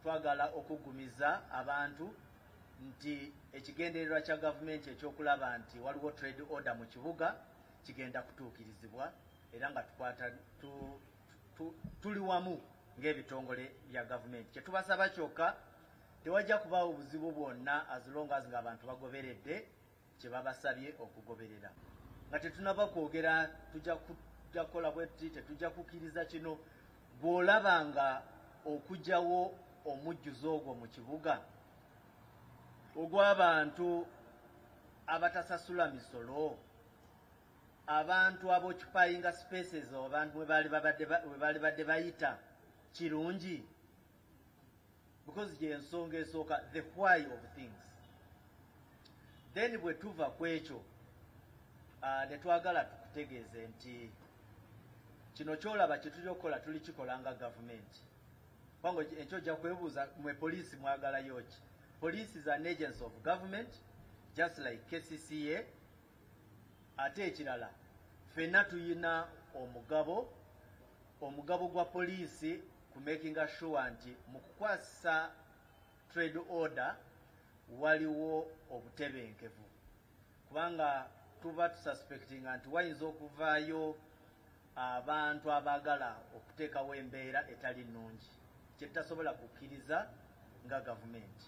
Twagala okuggumiza abantu nti ekigendererwa kya Gavumenti eky'okulaba nti waliwo Trade Order mu kibuga kigenda kutuukirizibwa era nga tukwata tu, tu, tuli wamu ng'ebitongole bya Gavumenti. Kye tubasaba kyokka tewajja kubaawo buzibu bwonna as long as ng'abantu bagoberedde kye babasabye okugoberera. Nga tetunaba kwogera tujja kukola bwetti, tetujja kukiriza kino, bw'olaba nga okujawo omujjuzo ogwo mu kibuga ogw'abantu abatasasula misolo abantu abokipayinga spaces abantu webaali babadde bayita kirungi because gyensonga esooka the why of things then bwe tuva ku ekyo uh, ne twagala tukutegeeze nti kino kyolaba kyetuli okukola tuli kikola nga gavumenti kubanga ekyo ojja kwebuuza mwe poliisi mwagalayo ki poliisi is an agency of government just like kcca ate ekirala fenna tuyina omugabo Omugabo gwa poliisi ku making sure nti mu kukwasisa trade order waliwo obutebenkevu kubanga tuba tususpectinga nti wayinza okuvaayo abantu abaagala okuteekawo embeera etali nnungi kye tutasobola kukkiriza nga gavumenti.